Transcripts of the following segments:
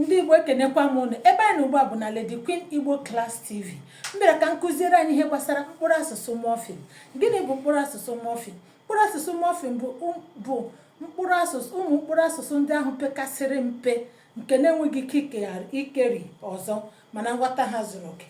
ndị igbo ekenekwa m ụnụ ebe anyị nọ ugbu a bụ na Lady Queen Igbo Class TV m bịara ka m kụziere anyị ihe gbasara mkpụrụ asụsụ mọfim gịnị bụ mkpụrụ asụsụ mọfim mkpụrụ asụsụ mọfim bụ bụ mkpụrụ asụsụ ụmụ mkpụrụ asụsụ ndị ahụ pekasịrị mpe nke na-enweghị ike ikeri ọzọ mana nghọta ha zuru oke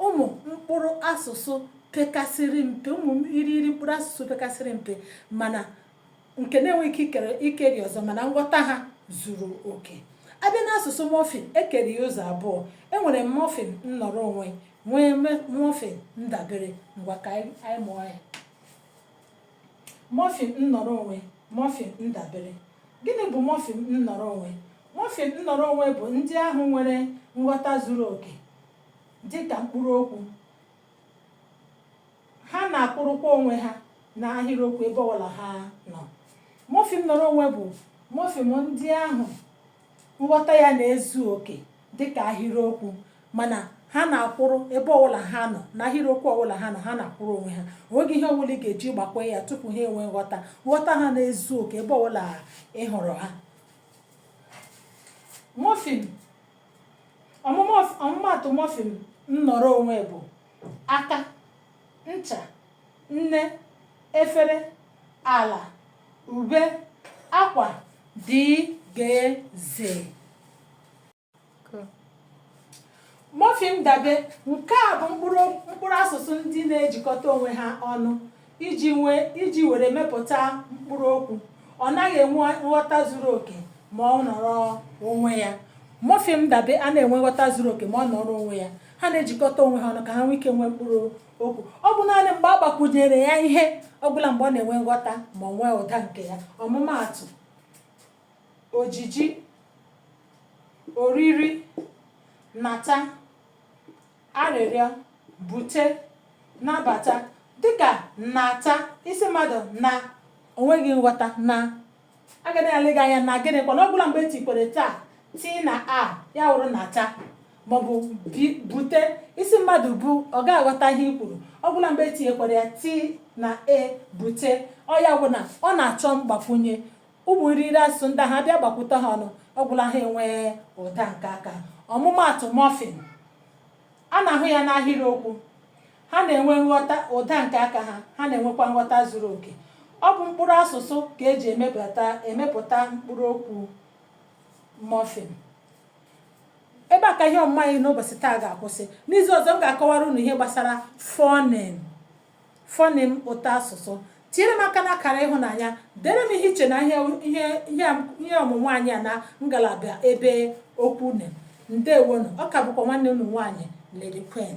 ụmụ mkpụrụ asụsụ pekasịrị mpe ụmụ irighiri mkpụrụ asụsụ pekasịrị mpe mana nke na-enweghị ike ikere ikeri ọzọ mana nghọta ha zuru oke a bịa n'asụsụ mọfim e kere ya ụzọ abụọ e nwere mọfim nnọrọ onwe nwee mọfim ndabere ngwa ka anyị mụọ ya mọfim nnọrọ onwe mọfim ndabere gịnị bụ mọfim nnọrọ onwe mọfim nnọrọ onwe bụ ndị ahụ nwere nghọta zuru oke dị ka mkpụrụ okwu ha na-akwụrụkwa onwe ha n'ahịrịokwu ebe ọbụla ha nọ mọfim nnọrọ onwe bụ mọfim ndị ahụ nghọta ya na-ezu oke dịka ahịrịokwu mana ha na-akwụrụ ebe ọbụla ha nọ na ahịrịokwu ọbụla ha nọ ha na-akwụrụ onwe ha o nweghị ihe ọbụla ị ga-eji gbakwụ ya tupu ha enwee nghọta nghọta ha na-ezu oke ebe ọbụla ị hụrụ ha mọfim ọmụmaatụ mọfim nnọrọ onwe bụ aka ncha nne efere ala ube akwa dgz mọfim dabe nke a bụ mkpụrụ asụsụ ndị na-ejikọta onwe ha ọnụ iji nwee iji were mepụta mkpụrụ okwu ọ naghị enwe nghọta zuru oke ma ọ nọrọ onwe ya mọfim dabe anaghị enwe nghọta zuru oke ma ọ nọrọ onwe ya ha na-ejikọta onwe ha ọnụ ka ha nwee ike nwee mkpụrụ okwu ọ bụ naanị mgbe a gbakwunyere ya ihe ọbụla mgbe ọ na-enwe nghọta ma o nwee ụda nke ya ọmụmaatụ ojiji oriri nata arịrịọ bute nabata dịka nata ị sị mmadụ na o nweghị nghọta na a ga na-ele gị anya na gịnị kwanụ ọ gwụla mgbe etikwere ta t na a ya wụrụ nata maọbụ bute ị sị mmadụ bu ọ gaghị aghọta ihe i kwuru ọ gwụla mgbe e tinyekwuru ya t na e bute ọ ya wụ na ọ na-achọ mgbakwunye ụmụ irighiri asụsụ ndị ahụ a bịa gbakwute ha ọnụ ọ gwụla ha enwee ụda nke aka ọmụmaatụ mọfim a na-ahụ ya n'ahịrịokwu ha na-enwe nghọta ụda nke aka ha ha na-enwekwa nghọta zuru oke ọ bụ mkpụrụ asụsụ ka eji emepụta emepụta mkpụrụ okwu mọfim ebe a ka ihe ọmụmụ anyị n'ụbọchị taa ga-akwụsị n'izu ọzọ m ga-akọwara unu ihe gbasara fọnim Fọnịm ụtọ asụsụ. Tinyere m aka n'akara ịhụnanya. Dere m ihe i che na ihe ọmụmụ anyị a na ngalaba ebe okwu une. Ndewonụ. Ọ ka bụkwa nwanne unu nwaanyị Lady Queen.